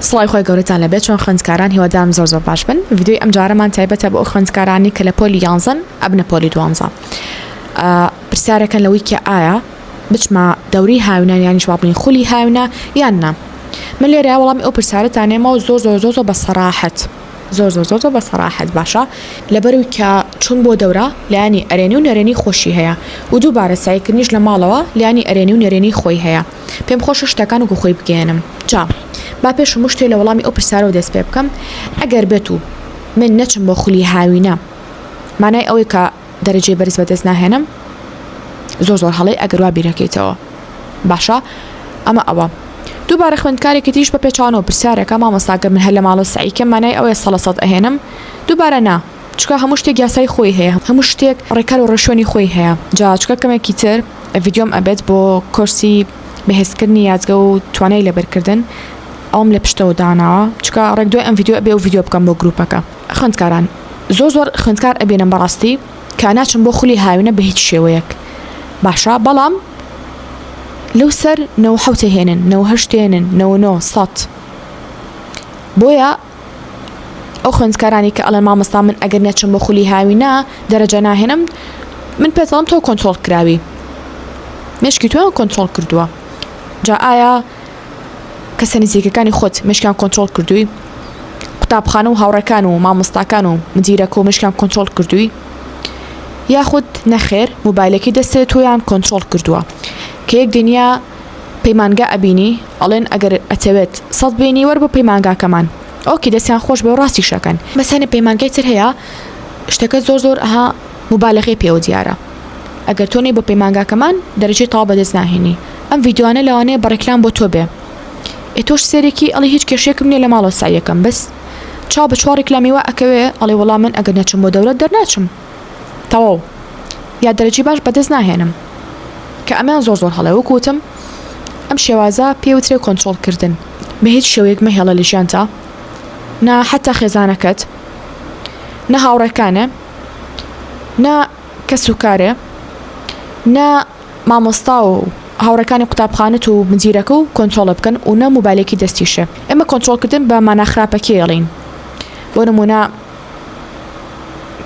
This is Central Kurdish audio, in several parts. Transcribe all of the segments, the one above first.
سڵاوی خوای گەورەتان لەبێت چۆن خوێندکاران هیوادارم زۆر زۆر باش بن ڤیدیۆی ئەم جارەمان تایبەتە بۆ ئەو خوێندکارانی کە لە پۆلی یانزەن ئەبنە پۆلی دوانزە پرسیارەکەن لە ویکیا ئایا بچمە دەوری هاوینان یانیش وابنین خولی هاوینە یان نا من لێرە وەڵامی ئەو پرسیارەتانێمەوە زۆر زۆر زۆر زۆر بە سەراحەت زۆر زۆر زۆر بە سەراحەت باشە لەبەرو کە چون بۆ دەورە لایانی ئەرێنی و نەرێنی خۆشی هەیە و دووبارە سایکردنیش لە ماڵەوە لایانی ئەرێنی و نەرێنی خۆی هەیە پێم خۆشە شتەکان وەکو خۆی بگەیەنم جا با پێش هەموو شتێ لە وەڵامی ئەو پرسیارەوە دەست پێ بکەم ئەگەر بێت و من نەچم بۆ خولی هاوینە مانای ئەوەی کە دەرەجێ بەرز بەدەست ناهێنم زۆر زۆر هەڵی ئەگەر وا بیرەکەیتەوە باشە ئەمە ئەوە دووبارە خوێندکارێکی تریش بە پێچانەوە پرسیارەکە مامەساگە من هەر لە ماڵۆ سعیکە مانای ئەوەیە سەڵەسەد ئەهێنم دووبارە نا چکە هەموو شتێک یاسای خۆی هەیە هەموو شتێک ڕێکار و ڕێشوێنی خۆی هەیە جا چکە کەمێکی تر ڤیدیۆم ئەبێت بۆ کۆرسی بەهێزکردنی یادگە و توانای لەبەرکردن ئەوم لە پشتەوە داناوە چکە ڕێک دوای ئەم ڤیدیۆ ئەبێ و ڤیدیۆ بکەم بۆ گروپەکە خوێندکاران زۆر زۆر خوێندکار ئەبێنم بەڕاستی کە ناچم بۆ خولی هاوینە بە هیچ شێوەیەک باشە بەڵام لەو سەر نەوە حوتە هێنن نەوە هەشتێنن نەوە نۆ سەد بۆیە ئەو خوێندکارانی کە ئەڵێن مامۆستا من ئەگەر نەچم بۆ خولی هاوینە دەرەجە ناهێنم من پێتەڵم تۆ کۆنتترۆل کراوی مشکی تۆیان کۆنتترۆل کردووە جا ئایا کەسە نزیکەکانی خۆت مشکیان کۆنتترۆل کردووی قوتابخانە و هاوڕەکان و مامۆستاکان و مدیرەکە و مشکیان کۆنتترۆل کردووی یاخود نەخێر موبایلەکەی دەستێت تۆیان کۆنتترۆل کردووە کە یەک دنیا پەیمانگا ئەبینی ئەڵێن ئەگەر ئەتەوێت سەد بێنی وەر بۆ پەیمانگاکەمان ئۆکی دەستیان خۆش بێ و ڕاستیشەکەن بەسانە پەیمانگای تر هەیە شتەکە زۆر زۆر ئەها مبالغەی پێوە دیارە ئەگەر تۆ نەی بۆ پەیمانگاکەمان دەرەجەی تاو بەدەست ناهێنی ئەم ڤیددیوانە لەوانەیە بە ڕێکلام بۆ تۆ بێ ئێ تۆش سێرێکی ئەڵی هیچ کێشێکم نییە لە ماڵەوە سایەکەم بەس چاو بە چوار ڕیکلامی وا ئەکەوێ ئەڵێ وەڵام من ئەگەر نەچم بۆ دەورەت دەرناچم تەواو یا دەرەجی باش بەدەست ناهێنم کە ئەمەیان زۆر زۆر هەڵێ وەکو وتم ئەم شێوازە پێ وترێ کۆنترۆڵ کردن بە هیچ شێوەیەک مەهێڵە لە ژیانتا نا حتا خێزانەکەت نە هاوڕێکانێ نە کەس و کارێ نە مامۆستا و هاوڕەکانی قوتابخانەت و مدیرەکە و کۆنتۆڵە بکەن و نە موبایلێکی دەستیشە ئەمە کۆنتۆڵکردن بە ماناخراپەکێڵین بۆ نمونە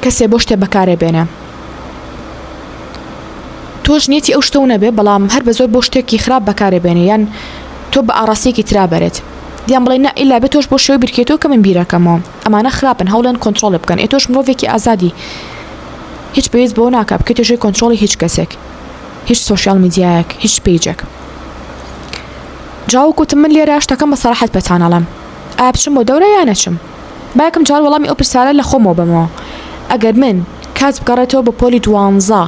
کەسێ بۆ شتێ بەکارێ بێنێ تۆش نیەتی ئەو شتەو نەبێ بەڵام هەر بە زۆر بۆ شتێکی خراپ بەکارێ بێنێ یان تۆ بە ئاڕاستێکی ترا بەرێت دیان بڵێ نە ئیلا بێ تۆش بۆ شێوەی بیرکێتەوە کە من بیرەکەمەوە ئەمانە خراپن هەوڵێن کۆنتترۆڵ بکەن ئێ تۆش مرۆڤێکی ئازادی هیچ پێویست بۆ ناکە بکە توێژەی کۆنتترۆڵی هیچ کەسێک هیچ سوسیال میدیایەک هیچ پیجێک جاوکوتم من لێرە شتەکەم بە سەراحەت پێتانەڵم ئابچم بۆ دەورە یانەچم با یەکەم جار وەڵامی ئەو پرسیارە لە خۆمەوە بەمەوە، ئەگەر من کات بگەڕێتەوە بۆ پۆلی دوانزە،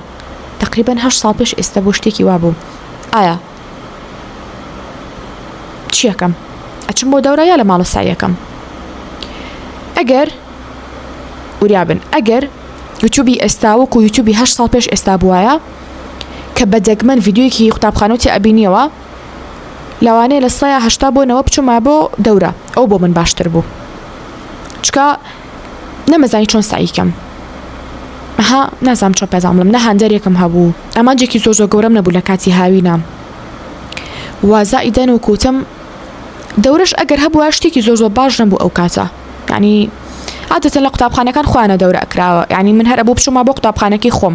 تەقریبەن هەشت ساڵ پێش ئێستا بۆ شتێکی وا بووم، ئایا چی ئەکەم؟ ئەچم بۆ دەورە یا لە ماڵە سەعی ئەکەم؟ ئەگەر وریا بن، ئەگەر یوتیوبی ئێستا وەکو یوتیوبی هەشت ساڵ پێش ئێستا بووایە کە بە دەگمەن ڤیدیۆیەکی قوتابخانەوتی ئەبینیەوە، لەوانەیە لە سڵەیە هەشتا بۆ نەوە بچوومە بۆ دەورە ئەو بۆ من باشتر بوو چکە نەمەزانی چۆن سعیکەم ها نازام چۆ پێزان بڵم نەهاندەرێکم هەبوو ئەمانجێکی زۆر زۆر گەورەم نەبوو لە کاتی هاوینە وازائیدەن و کوتم دەورش ئەگەر هەبووە شتێکی زۆر زۆر باش نەبوو ئەو کاتە ینی عادەتە لە قوتابخانەکان خۆیانە دەورە ئەکراوە ینی من هەرە بۆ بچوومە بۆ قوتابخانەکەی خۆم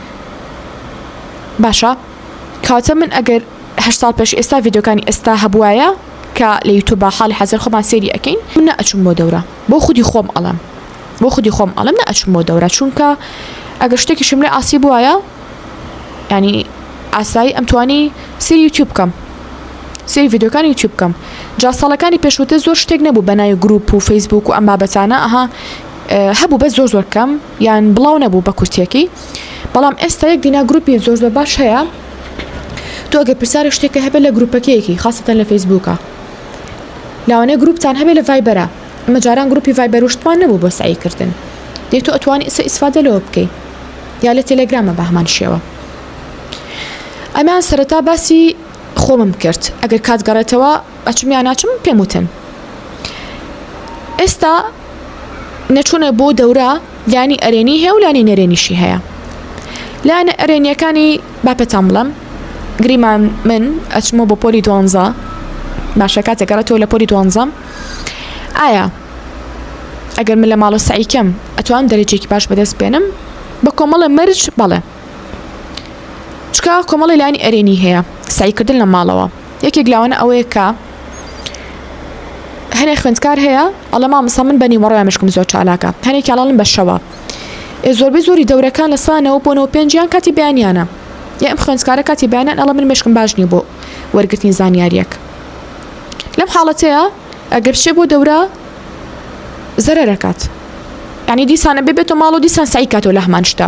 باشە کاتە من ئەگەر هە ساڵ پێش ئێستا یددیوکانی ئێستا هەبواە کە لە یوتوب بە حاڵی حەزر خۆمان سێری ئەەکەین من ئەچم بۆ دەورە بۆ خودی خۆم ئەڵم بۆ خودی خۆم ئەڵم نە ئەچم بۆ دەورە چونکە ئەگەر شتێکی شملێ ئاسی بواە ینی ئاسایی ئەمتوانی سری یوتیوب بکەم سری یددیوکانی یوتیوب بکەم جا ساڵەکانی پێشوتە زۆر شتێک نەبوو بەناوی گروپ و فەیسبوک و ئەم بابەتانە ئەها هەبوو بە زۆر زۆر کەم یان بڵاو نەبوو بە کورتێکی بەڵام ئێستا یەک دینا گروپی زۆر زۆر باش هەیە تۆ گە پرسیارە شتێکە هەبێت لە گروپەکەیەکی خاستە لە فەیسبووکە لاوانەیە گروپتان هەبێت لە ڤایبەرە مەجاران گروپی ڤایبەر وشتمان نەبوو بۆ سعیکردن دێت تۆ ئەتوانی ئسە ئیسفادە لەوە بکەی یا لە تەلەگرامە بە هەمان شێوە ئەمان سەرەتا باسی خۆمم کرد ئەگەر کات گەڕێتەوە ئەچم یا ناچم پێم وتن ئێستا نەچوونە بۆ دەورە لانی ئەرێنی هەیە و لانی نەرێنیشی هەیە لایەنە ئەرێنیەکانی باپەتان بڵم گریمان من ئەچمە بۆ پۆلی دوانزە باشە کاتێکگەڕێتەوە لە پۆلی دوانزەم ئایا ئەگەر من لە ماڵە سعیکەم ئەتوان دەرەجێکی باش بەدەست بێنم بە کۆمەڵە مەرج بەڵێ چکە کۆمەڵی لانی ئەرێنی هەیە سایکردن لە ماڵەوە یەکێک لاوانە ئەوەیە کە هەنێ خوێندکار هەیە ئەڵە مامسا من بەنی مەڕۆە مشکم زۆر چالاکە هەنێکی ئەڵڵم بەشەوە ئێ زۆربەی زۆری دەورەکان لە سانەوە بۆنەوە پێنجیان کاتی بیانیانە یا ئەم خوێندکارە کاتی بیانیان ئەڵە من مشکم باش نییە بۆ وەرگرتنی زانیاریەک لەم حاڵەتەیە ئەگەر شێ بۆ دەورە زەرەکات ینی دیسانە ببێتە ماڵ و دیسان سعی کاتەوە لە هەمان شتە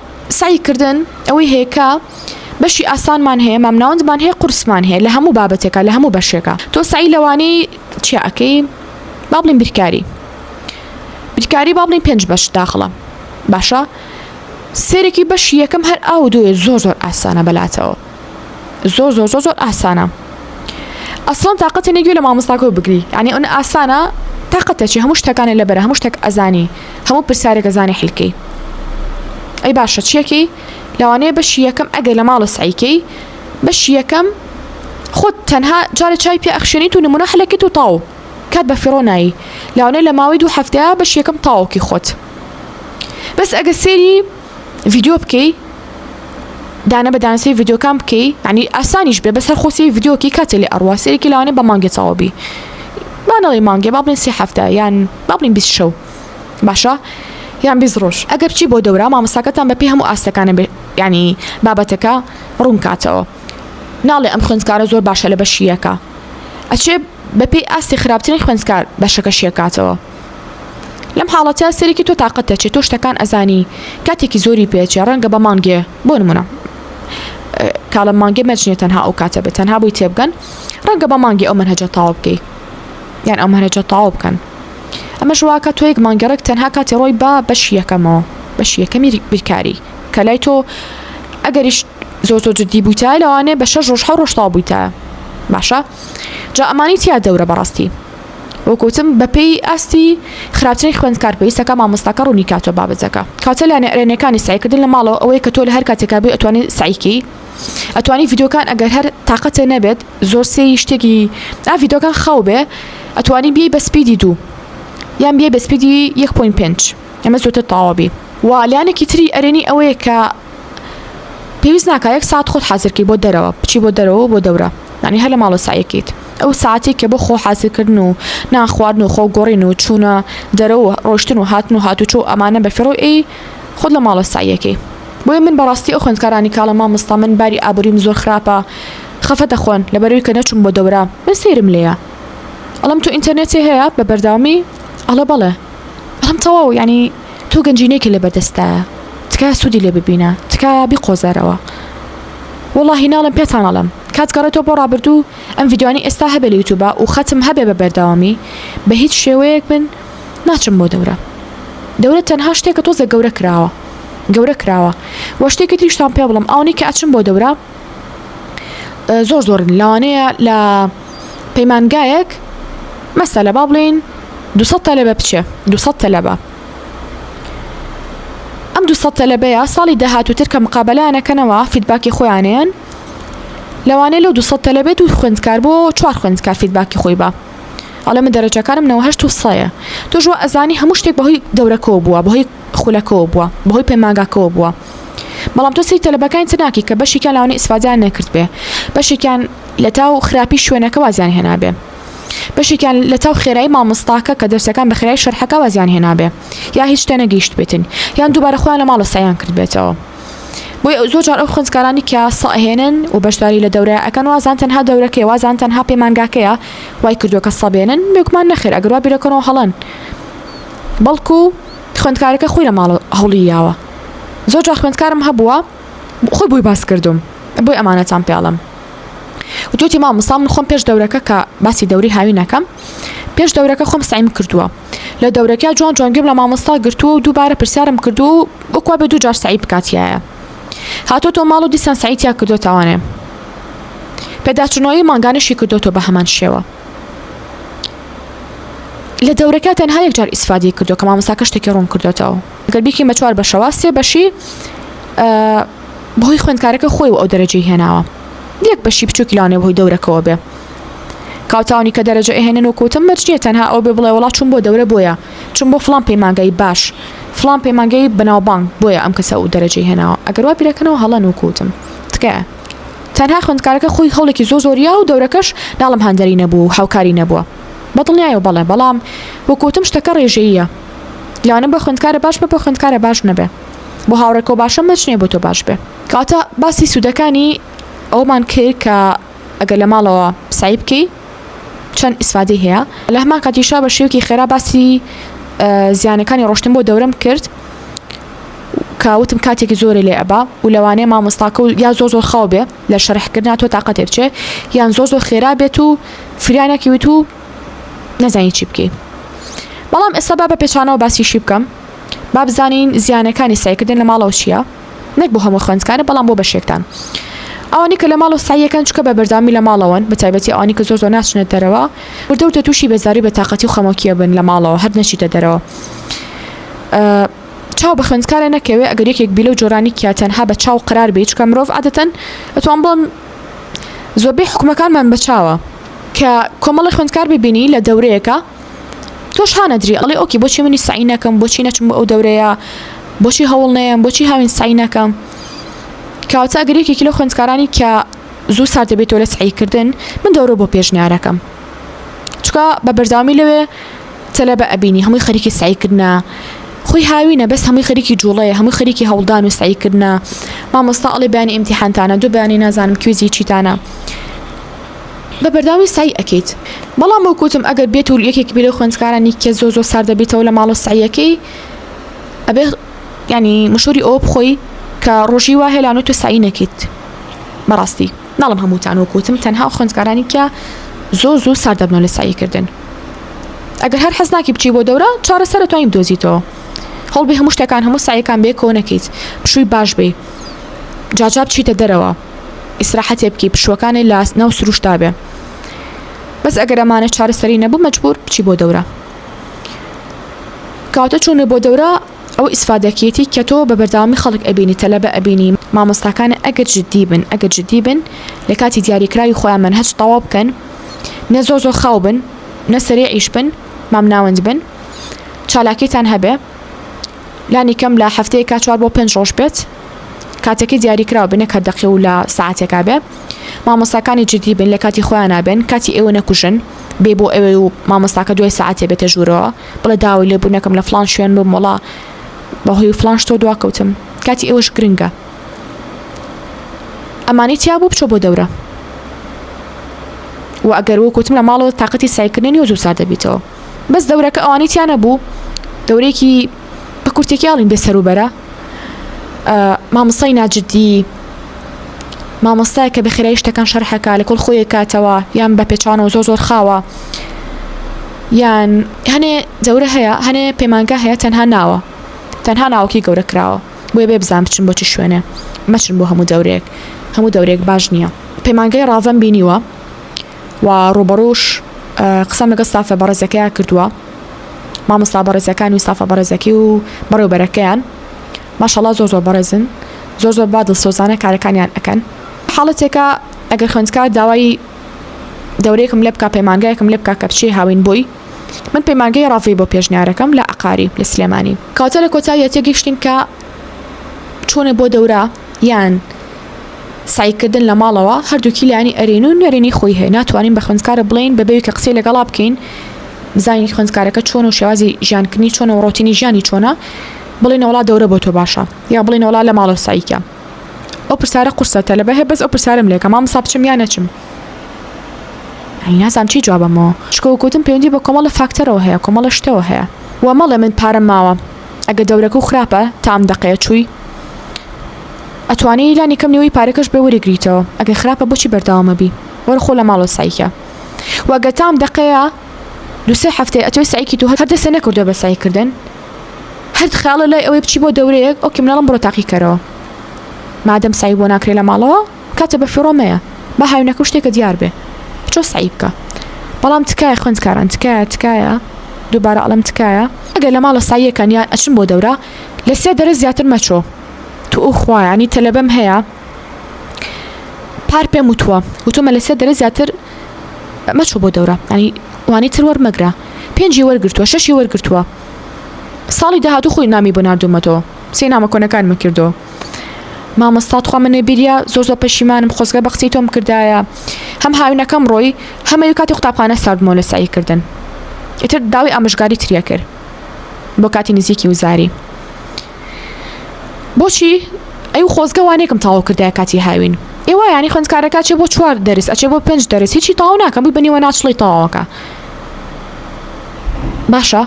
سەعی کردن ئەوەی هەیە کە بەشی ئاسانمان هەیە مامناوەندمان هەیە قورسمان هەیە لە هەموو بابەتێکە لە هەموو بەشێکە تۆ سەعی لەوانەی چیاکەی با بڵین بیرکاری بیرکاری با بڵین پێنج بەش داخڵە باشە سێرەکی بەشی یەکەم هەر ئاو دوێ زۆر زۆر ئاسانە بەلاتەوە زۆر زۆر زۆر زۆر ئاسانە ئەسڵان تااقەتە نەگوێ لە مامۆستاکە بگری ینی ئەن ئاسانە تااقەتەچی هەموو شتەکانی لەبەر هەموو شتێک ئەزانی هەموو پرسیارێکە زانانی حلکەی ئەی باشە چیەکەی لەوانەیە بەشی یەکەم ئەگە لە ماڵە سعیکەی بەشی یەکەم خۆت تەنها جارە چای پێ ئەخشێنیت و نمونە حلەکەت و تاو کات بە فڕۆنایی لاوانەیە لە ماوەی دوو هەفتەیە بەشی یەکەم تاوکی خۆت بەس ئەگە سێری ڤیدیۆ بکەی دانە بە دانسەی ڤیددیوکان بکەی ینی ئاسانیش بێ بەسەر خۆسی ڤیددیوکی کاتێ لە ئەڕوا سێرێکی لاوانێ بە مانگێ چاوەبی بانەڵی مانگێ با بڵێن سێ هەفتە یان با بڵین بیست شەو باشە یان بیست ڕۆژ ئەگەر بچی بۆ دەورا مامەساکەتان بە پێی هەموو ئاستەکانە بێ ینی بابەتەکە ڕوون کاتەوە ناڵێ ئەم خوێندکارە زۆر باشە لە بەشیەکە ئەچێ بەپی ئاستی خراپترین خوێندکار بەشەکەشیەکاتەوە لەم حاڵەتە سەرێکی تۆ تااقەت دەچێت تۆ شتەکان ئەزانی کاتێکی زۆری پێچێ ڕەنگە بە مانگێ بۆ نمونە کاڵە مانگێ مەچنێت تەنها ئەو کاتە بە تەنها بووی تێبگەن ڕەنگە بە مانگی ئەو منهجە تاو بکەیت یان ئەو منهجە تاو بکەن ئەمە ژواکە تۆ یەک مانگەڕێک تەنها کاتی ڕۆی با بەش یەکەمەوە بەش یەکەمی بیرکاری کە لای تۆ ئەگەریش زۆر زۆر جددی بوویتە لەوانێ بە شەش ڕۆژ حە ڕۆژتا بوویتە باشە جا ئەمانی تیا دەورە بەڕاستی وەکوتم بەپێی ئاستی خراپترین خوێندکار پێویستەکە مامۆستاکە ڕوونی کاتەوە بابەتەکە کاتە لە نێرێنیەکانی سەعیکردن لە ماڵەوە ئەوەیە کە تۆ لە هەر کاتێکا بێ ئەتوانی سەعیکەی ئەتوانی ڤیدۆکان ئەگەر هەر تااقەتێ نەبێت زۆر سێی شتێکی ئا ڤیدۆکان خاو بێ ئەتوانی بی بە سپیدی دوو یان بێ بە سپیدی 1.5 ئەمە زۆتر تاوابی و لایەنێکی تری ئەرێنی ئەوەیە کە پێویست ناکە یەک ساعت خۆت حازرکی بۆ دەرەوە بچی بۆ دەرەوە بۆ دەورە ینی هەر لە ماڵە سایەکیت ئەو ساعتی کە بۆ خۆ حازرکردن و ناخواردن و خۆ گۆڕین و چوونە دەرەوە ڕۆشتن و هاتن و هاتوچۆ و ئەمانە بە فڕۆ ئی خۆت لە ماڵە سایەکەی بۆیە من بەڕاستی ئەو خوێندکارانی کاڵە مامۆستا من باری ئابووریم زۆر خراپە خەفە دەخۆن لەبەروی کە نەچوم بۆ دەورە من سەیرم لێە ئەڵم تو ئینتەرنێتی هەیە بە بەرداوامی ئەڵە بەڵێ ئەم تەواو ینی تۆ گەنجینەیەکی لەبەر دەستتایە تکایە سودی لێ ببینە تکایە بیقۆزەرەوە وەڵاهی ناڵێم پێتان ئەڵێم کات گەڕێتەوە بۆ ڕابردوو ئەم ڤیدیۆیانەی ئێستا هەبێ لە یوتوبا و خەتم هەبێ بە بەردەوامی بە هیچ شێوەیەک من ناچم بۆ دەورە دەورە تەنها شتێکە تۆزێک گەورە کراوە گەورە کراوە وە شتێکی تریشتان پێ بڵێم ئەوەنەی کە ئەچم بۆ دەورە زۆر زۆرن لەوانەیە لە پەیمانگایەک مەسەلە با بڵێن دو تەلەبە بچێ دو تەلەبە ئەم دو تەلەبەیە ساڵی داهاتوتر کە مقابلانەکەنەوە فیدباکی خۆیانیان لەوانەیە لەو دو تەلەبێت و خوێندکار بۆ چوار خوێندکار فیدباکی خۆی بە ئەڵێ من دەرەجەکانم نەوەهشت و سەیە تۆژوە ئەزانی هەموو شتێک بەهۆی دەورەکەەوە بووە بەهۆی خولەکەوە بووە بەهۆی پەیمانگاکەوە بووە بەڵام تۆ سەیری تەلەبەکانی تر ناکەی کە بەشێکیان لەوانەیە ئیسفادەیان نەکردبێ بەشێکیان لە تاو خراپی شوێنەکە وازیان هێنابێ بەشێکیان لە تاو خێرایی مامۆستاکە کە دەرسەکان بە خێرای شەرحەکە وازیان هێنابێ یا هیچ شتێ نەگەیشتبێتن یان دووبارە خۆیان لە ماڵە سەعیان کردبێتەوە بۆی ئەو زۆر جار ئەو خوێندکارانی کە سەهێنن و بەشداری لە دەورە ئەکەن وازان تەنها دەورەکەی وازان تەنها پەیمانگاکەیە وای کردووە کە سەبێنن بێگومان نەخێر ئەگەر وا بیرەکەنەوە هەڵەن بەڵکو خوێندکارەکە خۆی لە ماڵە هەوڵی یاوە زۆر جا خوێندکارم هەبووە خۆی بۆی باس کردوم بۆی ئەمانەتان پێڵم وتوتی ما مسا من خۆم پێش دەورەکە کە باسی دەوری هاوینەکەم پێش دەورەکە خۆم سعیم کردووە لە دەورەکە جوان جوانگەم لە مامۆستا گرتووە و دووبارە پرسیارم کردو و وەکوا بە دوو جار سعی بکاتیایە هاتۆ تۆ ماڵ و دیسان سعیتیا کردو تاوانێ پێداچنەوەی مانگانشی کردوەوە بە هەمان شێوە لە دەورەکە تەنها یەک جار ئیسفادی کردو کە مامۆستاکە شتێکی ڕوون کردوێتەوە گەر بیکەین بە چوار بەشەوە سێ بەشی بەهۆی خوێندکارەکە خۆی و ئەو دەرەجەی هێناوە یەک بەشی بچووکی لاێ بەهۆی دەورەکەەوە بێ کاوتانی کە دەرەجە ئەهێنن و کوتم مەرجێ تەنها ئەو بێ بڵێ وڵات چون بۆ دەورە بۆیە چون بۆ فلان پەیمانگەی باش فلان پەیمانگەی بەناوبانگ بۆیە ئەم کەسە و دەرەجەی هێناوە ئەگەر وا بیرەکەنەوە هەڵەن و کوتم تکایە تەنها خوێندکارەکە خۆی هەوڵێکی زۆر زۆریا و دەورەکەش ناڵێم هاندەری نەبوو و هاوکاری نەبووە بە دڵنیایەوە بەڵێ بەڵام وەک وتم شتەکە ڕێژەییە لەوانە بە خوێندکارە باش بە بە خوێندکارە باش نەبێ بۆ هاوڕێکەوە باشە مەچ نیە بۆ تۆ باش بێ کاتە باسی سوودەکانی ئەومان کرد کە ئەگەر لە ماڵەوە سعی بکەی چەند ئیسفادەی هەیە لە هەمان کاتیشا بە شێوکی خێرا باسی زیانەکانی ڕۆشتن بۆ دەورم کرد کەوتم کاتێکی زۆری لێ ئەبا و لەوانەیە مامۆستاکە و یا زۆ زۆر خاو بێ لە شەرحکردنا تۆ تااقەتێک چێ یان زۆ زۆر خێرا بێت و فریانەکی وت و نەزانانی چی بکەیت بەڵام ئێستا با بە پێچانەوە باسیشی بکەم با بزانین زیانەکانی سایکردن لە ماڵەوە چییە؟ نەک بۆ هەموو خوێندکارە بەڵام بۆ بەشێکتان ئەوانی کە لە ماڵ و ساییەکەن چکە بە بەردەوامی لە ماڵەوەن بە تایبەتی ئەوانی کە زۆر زۆر ناچنە دەرەوە وردە وردە تووشی بێزاری بە تااقەتی و خەمۆکیە بن لە ماڵەوە هەر نەچیتە دەرەوە چاو بە خوێندکارە نەکەوێ ئەگەر یەکێک بیلە و جۆرانی کیا تەنها بە چاو قرار بێت چکە مرۆڤ عادەتەن ئەتوان بڵم زۆربەی حکومەکانمان بەچاوە کە کۆمەڵی خوێندکار ببینی لە دەورەیەەکە تۆش هانەدری ئەڵێ ئۆکی بۆچی منی سعی نەکەم بۆچی نەچم بۆ ئەو دەورەیە بۆچی هەوڵ نەیەم بۆچی هاوین سعی نەکەم کاوچە گرێکێکی لە خوێندکارانی کە زوو سار دەبێتەوە لە سعیکردن من دەورە بۆ پێشنیارەکەم چکە بە بەرداوامی لەوێ تەلە بە ئەبینی هەمووی خەریکی سعیکردە خۆی هاوینە بەس هەمووی خەریکی جوڵەیە هەمووی خەریکی هەڵدان و سعیکردە مامۆستا ئەڵێ بەیانی ئیمتیحانتانە دوو بەیانی نازانم کوێزی چیتانە بە بەرداوی سەعی ئەکەیت بەڵام وەک وتم ئەگەر بێت و یەکێک بێ لەو خوێندکارانی کە زۆر زۆر ساردە بیتەوە لە ماڵە سەعیەکەی ئەبێ ینی مشوری ئەوە بخۆی کە ڕۆژی وا هێلان و تۆ سەعی نەکەیت بەڕاستی ناڵم هەمووتان وەک وتم تەنها خوێندکارانی کە زۆر زوو سارد دەبنەوە لە ساییکردن ئەگەر هەر حەز ناکی بچی بۆ دەورە چارەسەرە توانین دۆزیتەوە هەڵبێ هەموو شتەکان هەموو سایەکان بێ کۆ نەکەیت پشووی باش بێ جاجا بچیتە دەرەوە ئیسراحەتێ بکی پشوەکانی لە ناو سروشتا بێ بەس ئەگەر ئەمانە چارەسەری نەبوو مەجبور بچی بۆ دەورە کاتە چوونە بۆ دەورە ئەو ئیسفادەکیەتی کە تۆ بە بەرداوامی خەڵک ئەبینی تەلەبە ئەبینی مامۆستاکان ئەگەر جددی بن ئەگەر جددی بن لە کاتی دیاریکراوی خۆیان من هەچ تەواو بکەن نە زۆ زۆ خاو بن نە سەرێ ئیش بن مامناوەند بن چالاکیتان هەبێ لانی کەم لە هەفتەیەکا چوار بۆ پێنج ڕۆژ بێت کاتەکەی دیاریکراو بێ نەک هەر دەقێ و لە سەعاتێکا بێ مامۆستاکانی جدی بن لە کاتی خۆیان نابێن کاتی ئێوە نەکوژن بێ بۆ ئەوێ و مامۆستاکە دوای سەعاتێ بێتە ژوورەوە بڵێ داوای لێ بوو نەکەم لە فلان شوێن بم وڵا بەهۆی فلان شتۆ دواکەوتم کاتی ئێوەش گرنگە ئەمانی تیا بوو بچۆ بۆ دەورە و ئەگەر وەکوتم لە ماڵەوە تااقەتی سایکردنی و زوو سار دەبیتەوە بەس دەورەکە ئەوانەی تیا نەبوو دەورێکی بە کورتێکیاڵین بێ سەروبەرە مامۆستای ناجددی مامۆستای کە بەخێرای شتەکان شەرحەکە لە کۆڵ خۆیە کاتەوە یان بە پێچوانەوە زۆ زۆر خاوە یان هەنێ دەورە هەیە هەنێ پەیمانگا هەیە تەنها ناوە تەنها ناوکی گەورە کراوە بۆێ بێ بزان بچن بۆچی شوێنێ مەچن بۆ هەموو دەورێک هەموو دەورێک باش نییە پەیمانگای ڕاڤەم بینیوە و ڕوبەڕوش قسەم لەگەڵ ستافە بەڕێزەکەیان کردووە مامۆستا بەڕێزەکان و ستافە بەڕێزەکەی و بەڕێوبەرەکەیان ماشەڵا زۆر زۆر بەڕێزن زۆر زۆر بادڵ سۆزانە کارەکانیان ئەەکەن حاڵەتێکە ئەگەر خوێندکار داوای دەورەیەکم لێ بک پەیمانگایەکم لێ بکە کە بچێ هاوین بووی من پەیمانگەی ڕاڤی بۆ پێشنیارەکەم لە عقاری لە سلێمانی کاتە لە کۆتاییەتە گەشتین کە چوونە بۆ دەورە یان سعیکردن لە ماڵەوە هەردووکی لانی ئەرێن و نەرێنی خۆی هەیە ناتوانین بە خوێندکارە بڵین بە بەوی کە قسەی لەگەڵا بکەین بزانین خوێندکارەکە چۆن و شێوازی ژیانکردنی چۆن و ڕۆتینی ژیانی چۆنە بڵین وڵا دەورە بۆ تۆ باشە یا بڵین وڵا لە ماڵە سعیکە ئەو پرسیارە قورسەتە لە بەهێ بەس ئەو پرسیارم لێکە مام سا بچم یا نەچم نازام چی جوابەمەوە شکۆکوتم پەیوەندی بە کۆمەڵە فاکتەرەوە هەیە کۆمەڵە شتەوە هەیە و مەڵێ من پارەم ماوە ئەگە دەورەکە و خراپە تا ئەم دەقەیە چووی ئەتوانی لانی کەم نیوەی پارەکەش بێ وەریگریتەوە ئەگە خراپە بۆچی بەردەوامەبی وەرە خۆ لە ماڵەوە سەعیکە وەگە تام دەقەیە دوسێ هەفتەیە ئەتۆی سەعیکی تو هەر دەسێ نەکردوە بە سەعیکردن هەرد خاڵە لای ئەوەی بچی بۆ دەورەیەک ئەو کیمناڵم بڕۆ تاقیکەرەوە مادەم سەعی بۆ ناکرێ لە ماڵەوە کاتە بەفیڕۆ مەیە با هاوینەکە و شتێکە دیار بێ بچۆ سەعی بکە بەڵام تکایە خوێندکاران تکایە تکایە دووبارە ئەڵێم تکایە ئەگەر لە ماڵە سەعیەکەن یان ئەچن بۆ دەورە لە سێ دەرس زیاتر مەچۆ توخوا یانی تەلەبەم هەیە پار پێم وتووە وتومە لە سێ دەرس زیاتر مەچۆ بۆ دەورە ینی وانی تر وەرمەگرە پێنجی وەرگتووە شەشی وەرگتووە ساڵی داهاتوو خۆی نامی بۆ نردومەتەوە سێ نامە کۆنەکانمە کردەوە مامۆستا تخوا من نوێبیریا زۆر زۆر پەشیمانم خۆزگە بە قسەی تۆم کردایە هەم هاوینەکەم ڕۆی هەمەوی کاتی قوتابخانە ساردمۆ لە سعی کردن ئیتر داوی ئامژگاری تریە کرد بۆ کاتی نزیکی وزاری بۆچی ئەی و خۆزگەوانێکم تاو کردای کاتی هاوین ئێوە ینی خوندکارەکە چێ بۆ چوار دەرس ئەچێ بۆ پێنج دەرس هیچی تاو ناکەم بووی بنیوە ناچڵی تەواوەکە باشە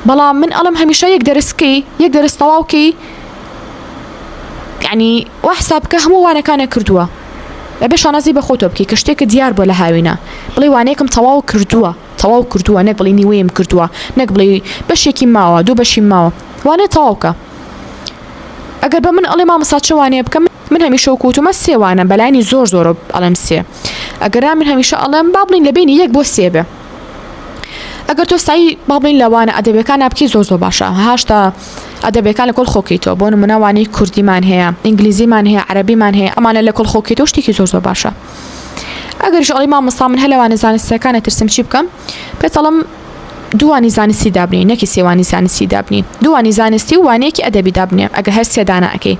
بەڵام من ئەڵم هەمیشە یەک دەرسکەی یەک دەرس تەواوکەی یعنی وا حساب بکە هەموو وانەکانە کردووە ئەبێ شانازی بە خۆتۆ بکەی کە شتێکە دیار بۆ لە هاوینە بڵێ وانەیەکم تەواو کردووە تەواو کردووە نەک بڵی نیوەیەم کردووە نەک بڵێ بەشێکی ماوە دوو بەشی ماوە وانێ تەواوکە ئەگەر بە من ئەڵێ مامەسا چوانێ بکەم من هەمیشە کووتمە سێوانە بەلانی زۆر زۆرە ئەڵم سێ ئەگەرا من هەمیشە ئەڵم با بڵین لە بینی یەک بۆ سێبێ ئەگەر تۆ سای با بڵین لە وانە ئەدەبیەکانە بکەی زۆر زۆر باشە هاشتا ئەدەبیەکان لە کۆل خۆکەیتەوە بۆ نمونە وانەی کوردیمان هەیە ئینگلیزیمان هەیە عەربیمان هەیە ئەمانە لە کۆل خۆکەیتەوە شتێکی زۆر زۆر باشە ئەگەر شڵی مامۆستا من هەلوانە زانستەکانە ترسم چی بکەم پێتەڵم دووانی زانستی دابنی نەکی سێوانی زانستی دابنی دووانی زانستی و وانەیەکی ئەدەبی دابنێ ئەگە هەر سێدانەکەی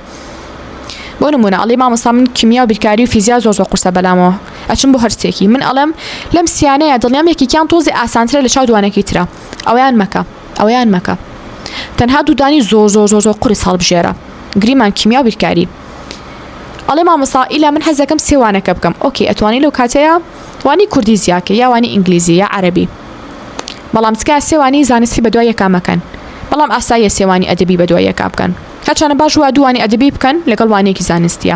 بۆ نمونە ئەڵی مامۆستا من کیمیا و بیرکاری و فیزیا زۆر زۆر قورسە بەلامەوە ئەچم بۆ هەرسێکی من ئەڵێم لەم سیانەیە دڵنیام یەکێکیان تۆزێ ئاسانترە لە چاو دوانەکەی ترا ئەویان مەکە ئەویان مەکە تەنها دوودانی زۆر زۆر زۆر زۆر قرس هەڵبژێرە گریمان کیمیا و بیرکاری ئەڵێ مامۆسا ئیلا من حەزەکەم سێوانەکە بکەم ئۆکی ئەتوانی لەو کاتەیە وانی کوردی زیاکە یاوانی ئینگلیزی یا عەربی بەڵام تکا سێوانی زانستی بە دوای یەکامەکەن بەڵام ئاساییە سێوانی ئەدەبی بە دوای یەکا بکەن هەرچانە باش وە دووانی ئەدەبی بکەن لەگەڵ وانەیەکی زانستیە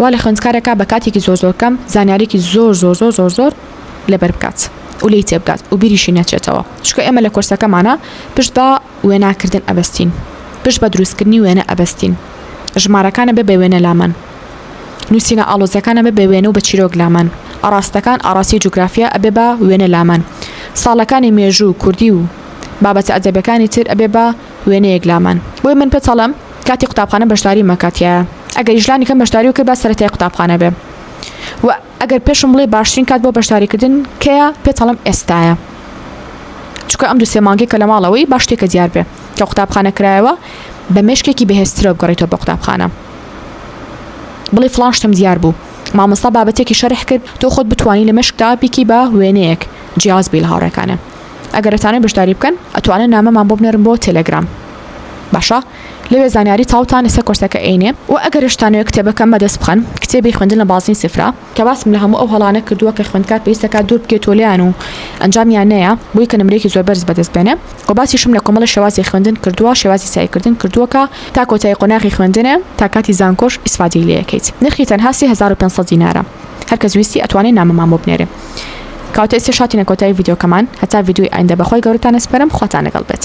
وا لە خوێندکارێکا بە کاتێکی زۆر زۆر کەم زانیارێکی زۆر زۆر زۆر زۆر زۆر لەبەر بکات و لی تێبگات و بیریشی نەچێتەوە چکە ئێمە لە کۆرسەکەمانە پشت بە وێناکردن ئەبستین پشت بە دروستکردنی وێنە ئەبستین ژمارەکانە بە بە وێنە لامان نووسینە ئاڵۆزەکانە بە بە وێنە و بە چیرۆک لامان ئاراستەکان ئاراستی جوگرافیا ئەبێ بە وێنە لامان ساڵەکانی مێژوو کوردی و بابەتە ئەدەبەکانی تر ئەبێ بە وێنەیەک لامان بۆی من پێت ئەڵێم کاتی قوتابخانە بەشداری مەکە تیایا ئەگەریش لانی کەم بەشداری بکەی با سەرەتای قوتابخانە بێ و ئەگەر پێشم بڵێ باشترین کات بۆ بەشداریکردن کەیە پێت ئەڵێم ئێستایە چکە ئەم دو سێ مانگی کە لە ماڵەوەی باش تێکە دیار بێ کە قوتابخانە کرایەوە بە مێشکێکی بەهێزترەوە بگەڕیتەوە بە قوتابخانە بڵێ فلان شتم دیار بوو مامۆستا بابەتێکی شەرح کرد تۆ خۆت بتانی لە مشکدا بیکی بە وێنەیەک جیاز بیل هاوڕێکانە ئەگەر ئەتانەوێ بەشداری بکەن ئەتوانن نامەمان بۆ بنێرن بۆ تێلێگرام باشە لەوێ زانیاری تاوتان لەسەر کۆرسەکە ئەینێ و ئەگەرشتانەوە کتێبەکەم بەدەست بخەن کتێبی خوێندن لە بازنی سفرا کە باسم لە هەموو ئەو هەڵانە کردووە کە خوێندکار پێویستەکە دوور بکێتۆ لیان و ئەنجامیان نەیە بۆی کە نمرێکی زۆر بەرز بەدەست بێنێ و باسیشم لە کۆمەڵە شێوازی خوێندن کردووە شێوازی سایکردن کردووەکە تا کۆتایی قۆناغی خوێندنێ تا کاتی زانکۆش ئیسفادەی لێکەیت نرخی تەنها 3500 دینارە هەرکەس ویستی ئەتوانێ نامەمان بۆ بنێرێ. کەواتە ئێستێش هاتینە کۆتایی ڤیدیۆکەمان هەتا ڤیدیۆی ئایندە بەخوای گەورەتان ئەسپەرم خواتان لەگەڵ بێت.